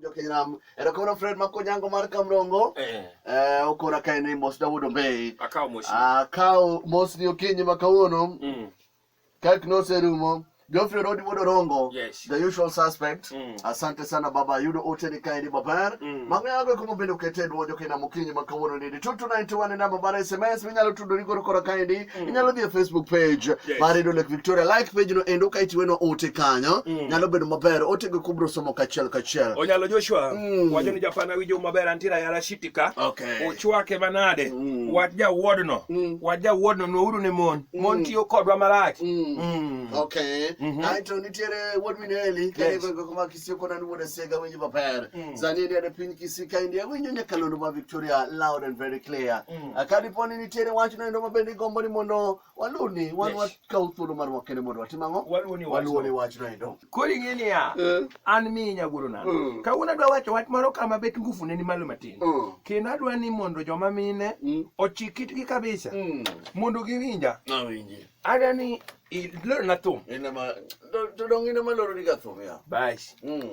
Jokinam, erokono Fred Makonyango mar Kamrongo. Eh. Eh, okora kae ni Mos Dawood Ombei. Akawo Mos. Akawo Mos ni okinyi ma kawuono. Mm. Kak noserumo. Geoffrey Rodi Wodo Rongo, yes. the usual suspect. Mm. Asante sana baba yudo ote ni kae ni babar. Mm. Mang'o yago kuma bende okete dwojo kina mukinyi ma kawuono ni 2291 namba mar SMS minyalo tudori koro kora kae ni mm. inyalo dhi e facebook page yes. mar redio lake victoria like page no endo ka itiweno ote kanyo mm. nyalo bedo maber otego kubro somo kachiel kachiel onyalo joshua mm. wacho ni japana winjo maber antiere ayala shitika okay. ochwake manade mm. wach jawuodno mm. wach jawuodno nouru ne mon mm. mon tiyo kodwa marach mm. mm. okay. mm -hmm. aeto nitiere wuod mineli yes. sie kona ni wona sega winjo maber mm. sani ni ane piny kisika india winjo nyakalondo ma victoria loud and very clear mm. Ah, ka dipo ni nitiere wach no endo mabende igombo ni mondo waluni wan yes. wakaw thuolo mar wakene mondo watim ang'o waluwo ni wach no endo koro ing'e niya eh. an mi nyagoro nano mm. kawuono adwa wacho wach moro kama bet ngufu ne ni malo matin mm. kendo adwa ni mondo joma mine mm. ochik kitgi kabisa mm. mondo giwinja adwa ni Eh, leo na thum. Ina ma to dong ina ma loro diga thum ya. Bash. Mm.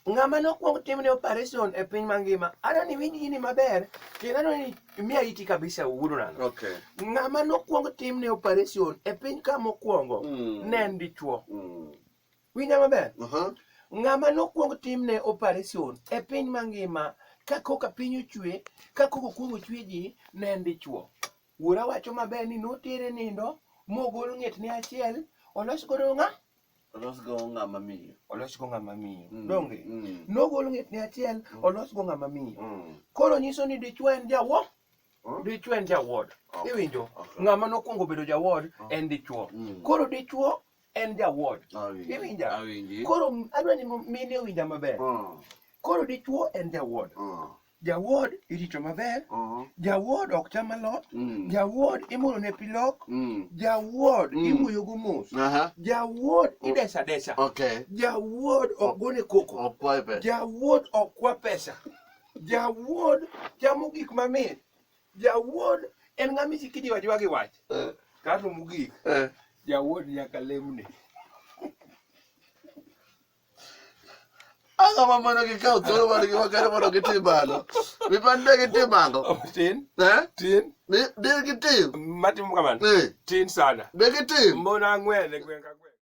Ng'ama nokwong timne operation e piny mangima, ano ni winj gini maber, kendo ano ni miya iti kabisa wuono nano. Okay. Ng'ama nokwong timne operation e piny ka mokwongo, mm. ne en dichwo. Mm. Winja maber? Uh -huh. Ng'ama nokwong timne operation e piny mangima, ka koka piny ochwe, ka koka okwong ochwe ji, ne en dichwo. Wuora wacho maber ni notere nindo mogol ng'etne achiel olos godo ng'a olos go ng'ama miyo olos go ng'ama miyo mm. donge mm. nogol ng'etne achiel mm. olos go ng'ama miyo mm. koro nyiso ni dichwo en jawo mm. dichwo en jawod okay. iwinjo okay. ng'ama nokwongo bedo jawod okay. Oh. en dichwo mm. koro dichwo en jawuoch Awinji. iwinja Awinji. koro adwa ni mine owinja maber Mm, koro dichuo en jawuod mm, jawuod irito maber mm, jawuod ok cham alot mm, jawuod imuro ne pilok mm. jawuod Mm. imuyogo mos Aha, jawuod idesa desa okay. jawuod ok gone koko Okwaye pesa. jawuod ok kwa pesa jawuod chamo gik mamit Jawuod en ng'a misiki jiwa jiwa gi wach. Eh. Kato mugik. Eh. Jawuod nyaka lemne. Anga ma mono gi kaw thuolo mar gi wakere mono gi tim bano. Mi pan de gi tim ango. Oh, tin. Eh? Tin. Mi de gi tim. Matim kamano. Eh. Tin sana. De gi tim. Mona ng'wene gwen ka gwen.